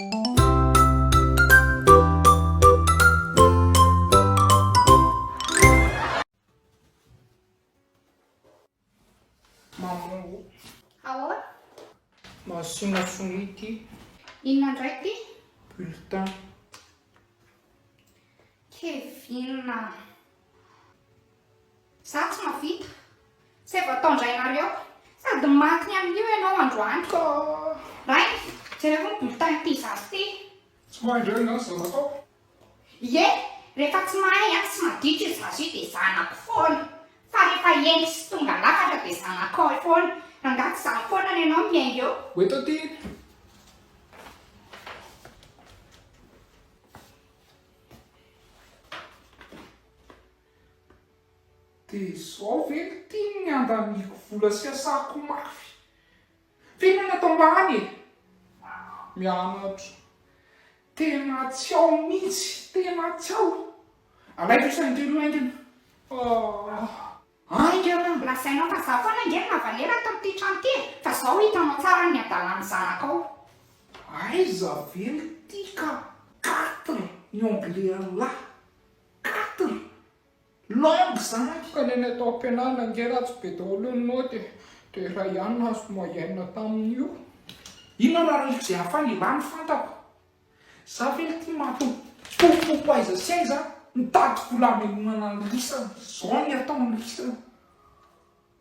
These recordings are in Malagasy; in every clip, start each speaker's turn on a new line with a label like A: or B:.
A: Mamango. Aoa. Masina fonoy ity. Inona indray
B: ity? Bulletin. Kevin. Za tsy mavita, zay vao taondrainareo, sady maty ny amin'io ianao androany ko Rainy, jerevo ny bulletin ity zaza ity. Tsy mahay indray
A: ny asa nataoko. Ie,
B: rehefa tsy mahay an, tsy maditra io zaza io dia zanako foana, fa rehefa hendry sy tonga lafatra dia zanakao foana, rangaha tsy za foana ny anao miainga eo. Ho eto aty.
A: Dia izao ve no tiany ny handaniako vola sy asako mafy? Feno any atambany e! Mianatra. Tena tsy ao mihitsy, tena tsy ao. Alaiko isany kely ho haingana. Ah. Ainga raha mbola sainao fa za foana
B: ange no navalera ato amin'ity trano ity e! Fa zao hitanao tsara ny hadalan'ny zanakao. Aiza
A: ve ny tika quatre ny anglais anlah? Quatre langues zany. Ka neny atao am-pianarana ange ratsy be daholo ny naoty e! Dia iray ihany nahazo moyenne tamin'io. Inona raha rivo izay hafa any ialahy no fantako. Za ve ity maty pofopofo aiza sy aiza mitady volamelonana an'i Risa zao ny ataon'i Risa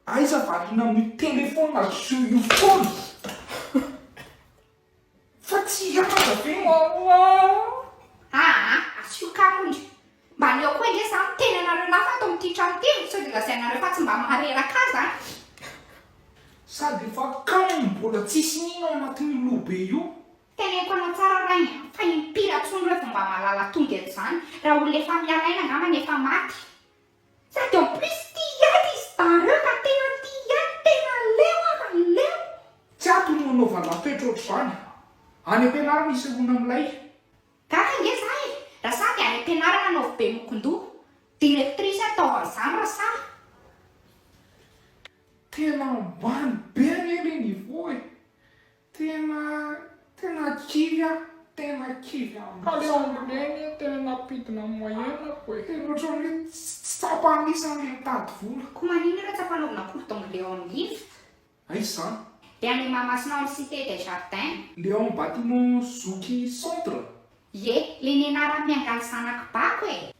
A: aiza variana amin'io téléphone azo io foana fa tsy aza ve mamoaa. Aa
B: asio kamo ndry. Mba aleo koa ange za miteny anareo lafo ato amin'ity trano ity e, sao dia lazainareo fa tsy mba mahareraka ahy zany.
A: Sady efa kamo mbola tsisy nino ao anatin'io lobe io Teneniko anao
B: tsara rainy a, fa impira tsony reo vao mba mahalala tody an'izany, raha olona efa miala aina angambany efa maty. Sady en plus tia hiady ry zda reo ka tena tia hiady, tena leo aho a, leo. Tsy ato
A: no hanaovanao toetra ohatr'izany. Any am-pianarana isehoana amin'ilay. Gaga ange
B: za e! Raha sahy dia any am-pianarana anaovy be mokon-doha. Directrice ataovy an'izany raha sahy.
A: Tena ambany be anie le niveau e! Tena tena kivy aho tena kivy aminy. Kaleo aminy reny e tena nampidina am moyen ako e. Tena otrany hoe tsy tsapa anisa le mitady vola. Ko manino ianao tsy ampanaovina
B: cours d'anglais ao am lift? Aiza zany?
A: Dia any Mahamasina
B: ao am cite des jardins. Le ao am bâtiment
A: zoky centre? Ie, le
B: nianarako niangaly zanak'i bako e!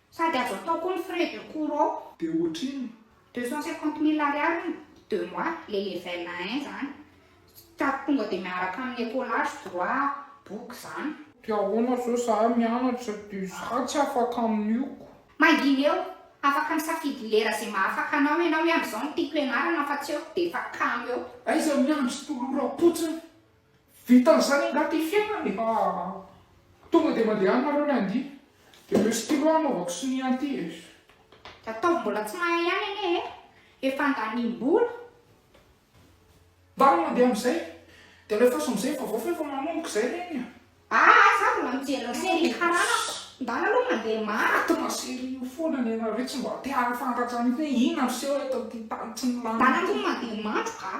B: Sady azo atao koa ny frais de cours ao. Dia ohatrinona?
A: Deux cent cinquante
B: mille ariary hono deux mois le level un izany. Ka tonga dia miaraka amin'ny écolage, droit, boky izany. Dia ahoana izao
A: za mianatra dia za tsy afaka amin'io ko. Mangina eo,
B: afaka misafidy lera ze mahafaka anao ianao hoe amin'izao no tiako ianarana fa tsy eo dia efa kamo eo. Aiza miandry
A: toloram-potsiny Vitan'izany angaha ity fiainana e! Aa! Tonga dia mandehanareo lundi dia ireo stylo hanaovako sonia an'ity e! Ataovy
B: mbola tsy mahay ihany anie e! Efa andaniam-bola!
A: Ndao mandeha amin'izay dia alefaso amin'izay ny vaovao fa efa manomboka izay reny a! Aa! Za mbola
B: mijery serie karanako! Ndao aloha mandeha maty! Fa serie io foana
A: ny anareo tsy mba te-hahafantatrany hoe inona no
B: miseho
A: eto amin'ity tany
B: tsy
A: milamina ity! Ndao
B: aloha
A: mandeha
B: mandroka
A: a!